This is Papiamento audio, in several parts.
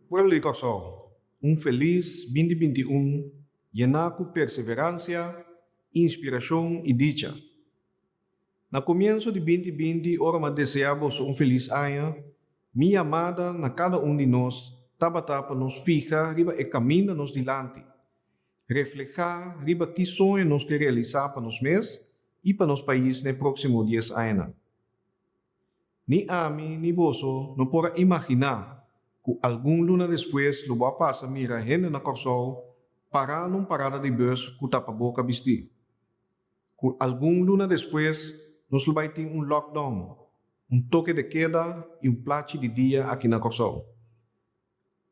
Pueblo di Kòrsou, un felis binti binti un yená ku perseveransia, inspirashon i dicha. Na komienso di binti binti ora m'a deseá boso un felis aña, mi yamada na kada un di nos tabata pa nos fiha riba e kaminda nos dilanti, reflehá riba ki soño nos ke realisá pa nos mes i pa nos pais na e próksimo dies añanan. Ni ami ni boso no por a imaginá ku algun luna despues lo bo a pasa mira hende na Kòrsou parando un parada di bus ku tapaboka bistí. Ku algun luna despues nos lo bai tin un lockdown, un toke de keda i un plachi di dia aki na Kòrsou.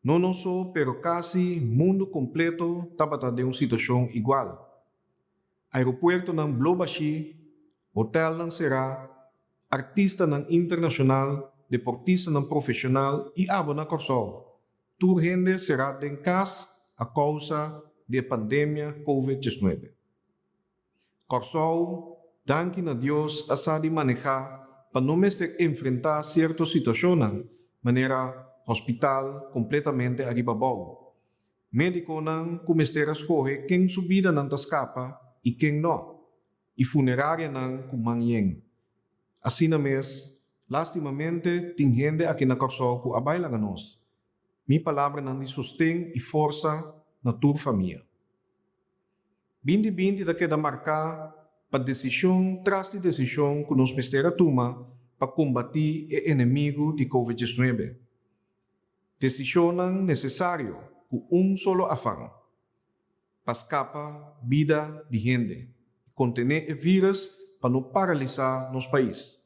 No nos so, pero casi mundo completo tabata den un situacion igual. Aeropuertonan blo bashi, hotelnan cera, artistanan internacional, deportistanan profesional y abo na Corsou, tur hende cera den cas a causa di e pandemia Covid diesnuebe. Kòrsou, danki na Dios a sa di maneha pa no mester enfrenta sierto situashonnan, manera hospital kompletamente ariba bou. Medikonan ku mester a skohe ken su bidanan ta skapa i ken no, i funerarianan ku man yen. Asina mes, lastimamente tin hende aki na Kòrsou ku a bai laga nos. Mi palabranan di sosten i forsa na tur famia. Binti binti ta keda marká pa desishon tras di desishon ku nos mester a tuma pa kombatí e enemigu di Covid diesnuebe. Desishonnan nesesario ku un solo afan, pa skapa bida di hende i kontené e vírus pa no paralisá nos pais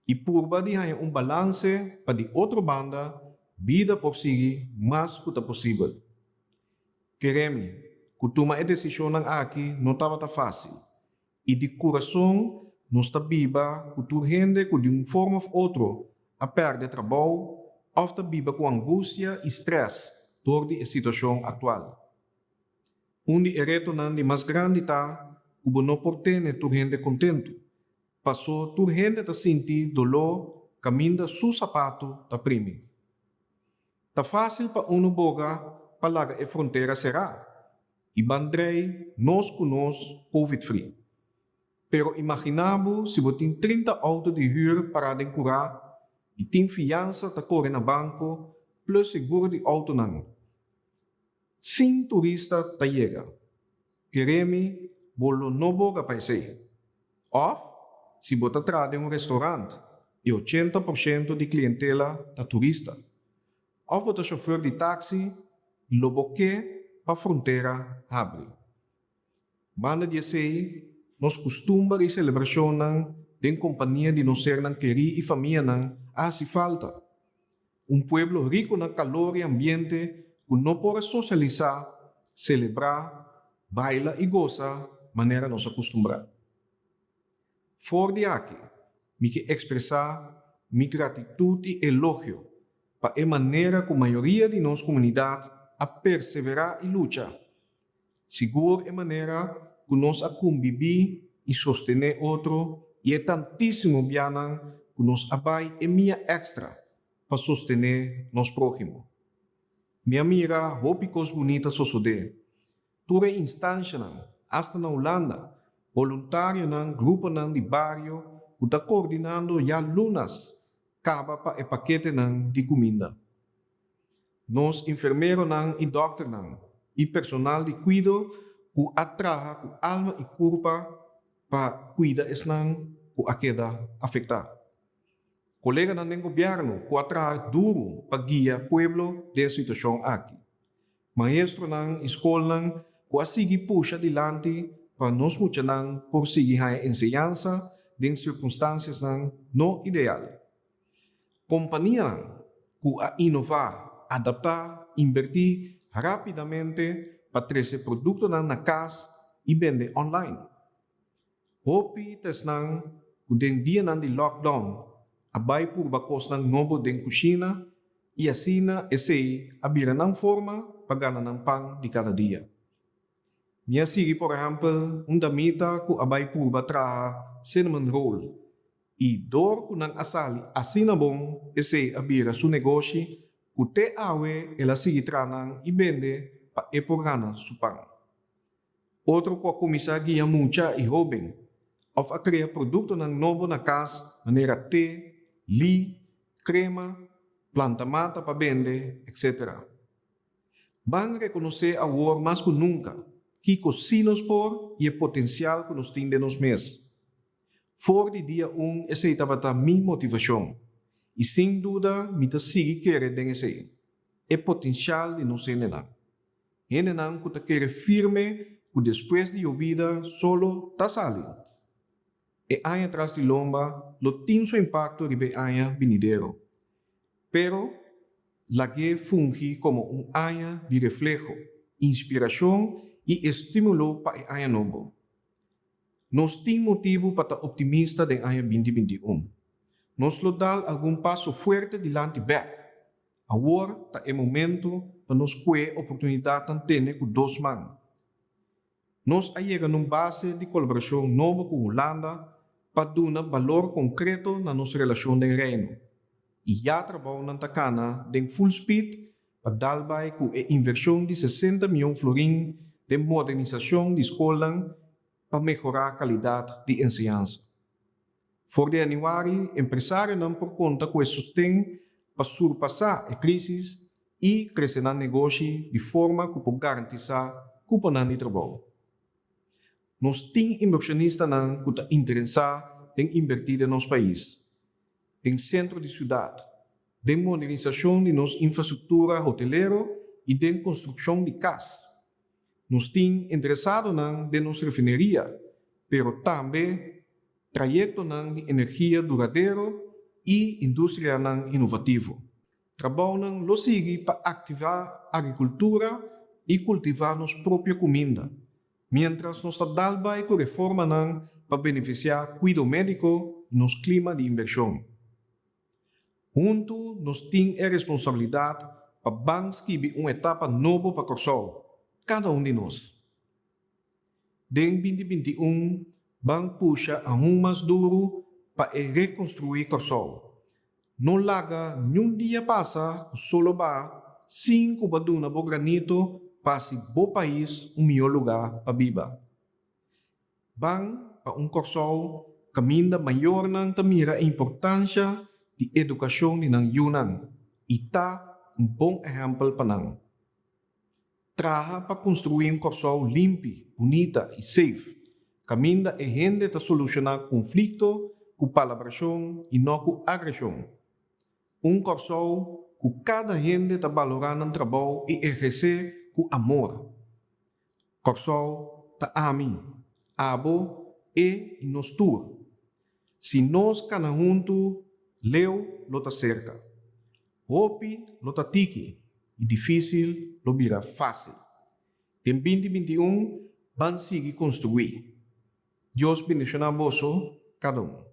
i purba di haña un balanse pa di otro banda bida por sigui mas ku ta posibel. Keremi ku tuma e desishonnan aki no tabata fásil, i di kurason nos ta biba ku tur hende ku di un forma òf otro a pèrdè trabou òf ta biba ku angustia i strès dor di e situashon aktual. Un di e retonan di mas grandi ta ku bo no por tene tur hende kontentu, pasó tur hende ta sinti doló kaminda su sapatu ta primi. Ta fásil pa unu boga pa laga e frontera será i ban drei nos ku nos covid free. Pero imaginá bo si bo tin trinta outo di hür pará den kurá i tin fiansa ta kore na banko plus seguro di outonan. Sin turista ta yega. Kere mi bo lo no boga pa esei. Òf, si bo ta traha den un restaurant i ochenta por shento di klientela ta turista, òf bo ta shofèr di taksi, lo bo ke pa frontera habri. Banda di esei, nos kustumber i selebrashonnan den kompania di nos sernan kerí i famianan a hasi falta. Un pueblo riko na kalor i ambiente ku no por a sosialisá, selebrá, baila i gosa manera nos a kustumbrá. For di aki, mi ke ekspresá mi gratitut i elogio pa e manera ku mayoria di nos komunidat a perseverá i lucha Sigur e manera ku nos a kumbibí i sostené otro i e tantísimo bianan ku nos a bai e mia èkstra pa sostené nos próhimo. Mi a mira hopi kos bunita sosodé. Tur e instanshanan, asta na Hulanda, boluntarionan, gruponan di bario ku ta koordinando ya lunas kaba pa e paketenan di kuminda. Nos infermeronan i dòkternan i personal di kuido ku a traha ku alma i kurpa pa kuida esnan ku a keda afektá. Koleganan den gobièrnu ku a traha duru pa guia pueblo den e situashon aki. Maestronan i skolnan ku a sigui pusha dilanti pa nos muchanan por sigui haña enseñansa den sirkunstansiasnan no ideal. Kompanianan ku a inová, adaptá, inbertí rápidamente pa trese produktonan na kas i bende online. Hopi ta esnan ku den dianan di lockdown a bai purba kosnan nobo den kushina i asina esei a bira nan forma pa gana nan pan di kada dia. Mi a sigui por ehempel un damita cu a bay purba traha cinnamon roll y door cu nan a sali asina bon esey a bira su negoshi cu te awe el a sigui traha nan y bende pa e por gana su pan. Otro cu a cuminsa guia mucha y hoben of a crea productonan nobo na cas manera te, li, crema, planta mata pa bende, etc. Ban rekonosé awor mas ku nunka kiko si nos por i e potensial ku nos tin den nos mes. For di dia un esei tabata mi motivashon i sin duda mi ta sigui kere den esei, e potensial di nos hendenan. Hendenan ku ta kere firme ku despues di yobida solo ta sali. E aña tras di lomba lo tin su impakto riba e aña binidero. Pero, lag'é fungi komo un aña di refleho, inspirashon i estímulo pa e aña nobo. Nos tin motibu pa ta optimista den aña binti binti un. Nos lo dal algun paso fuerte dilanti bèk. Awor ta e momento pa nos kue oportunidatnan tene ku dos man. Nos a yega na un base di kolaborashon nobo ku Hulanda pa duna balor konkreto na nos relashon den Reino, i ya trabounan ta kana den full speed pa dal bai ku e invershon di sesenta mion florin den modernisashon di skolnan pa mehorá kalidat di enseñansa. For di Januari, empresarionan por konta ku e sosten pa surpasá e krísis i krese nan negoshi di forma ku por garantisá kuponan di trabou. Nos tin inbershonistanan ku ta interesá den inbertí den nos pais, den sentro di siudat, den modernisashon di nos infrastruktura hotelero i den konstrukshon di kas. Nos tin interesadonan den nos refineria, pero tambe trayectonan di energia duradero y industrianan inovativo. Trabounan lo sigui pa activa agricultura y cultiva nos propio cuminda, mientras nos ta dal bay cu reformanan pa beneficia cuido medico y nos clima di inversion. Huntu nos tin e responsabilidat pa ban skibi un etapa nobo pa Kòrsou, kada un di nos. Den binti binti i un ban pusha aun mas duru pa e rekonstruí Kòrsou. No laga niun dia pasa ku solo ba sin ku bo a duna bo granito pa hasi bo pais un mihó lugá pa biba. Ban pa un Kòrsou kaminda mayornan ta mira e importansha di edukashon di nan yunan i ta un bon ehèmpel pa nan. Traha pa konstruí un Kòrsou limpi, bunita i seif, kaminda e hende ta solushoná konflikto ku palabrashon i no ku agreshon. Un Kòrsou ku kada hende ta balorá nan trabou i ehersé ku amor. Kòrsou ta ami, abo, e i nos tur. Si nos kana huntu, leu lo ta serka. Hopi lo ta tiki i difísil lo bira fásil. Den binti binti i un ban sigui konstruí. Dios bendishoná boso kada un.